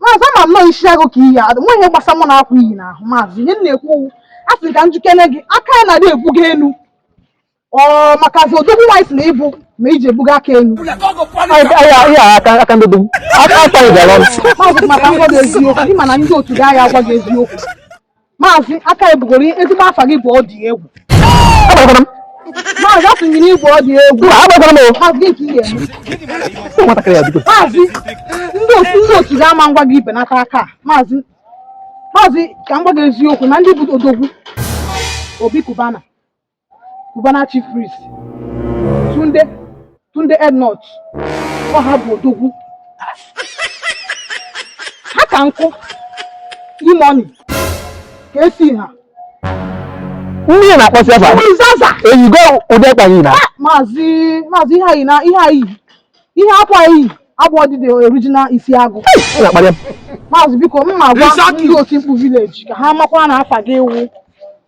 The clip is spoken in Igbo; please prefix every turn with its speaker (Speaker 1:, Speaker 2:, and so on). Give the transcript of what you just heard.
Speaker 1: maazị ama m na ọ isi agụ ka i yi adụ nwa ihe gbasa mụ na akwa i yi n'ahụ maazị ihe m na-ekwu wụ a sị ka m ji kene gị aka ya na-adị ebuga enu ọ makazi odogwu anyị sị na ị bụ ma i ji ebuga aka
Speaker 2: enu aka ndị dị aka aka ị gara ọrụ maazị maka m gwa gị
Speaker 1: eziokwu ị ma na ndị otu gị aya agwa gị eziokwu Maazị aka ebugoro ezigbo afa gị bụ ọ dị egwu. Agbakwara m. Maazị a sụnyere igwe ọ dị egwu. Mba, agbakwara m o. Maazị gị ka ị ga-eme. Ụmụ nwatakịrị ya bido. Maazị ndị otu ndị otu gị ama agwa gị ibenata aka a. Maazị Maazị ka m gwa gị eziokwu na ndị bụ odogwu Obi Kubana Cubana chief priest Tunde Tunde Ednut ọ ha bụ odogwu ha ka nkụ imoni ka esi ha
Speaker 2: mmiri na-akpọsi afa eyigo ụdị ekpa gị na maazị maazị ihe anyị na ihe anyị ihe akwa i yi abụọdị the original isi agụ maazị biko m ma agwa ndị otimkpu village ka ha makwa na afa gị ewu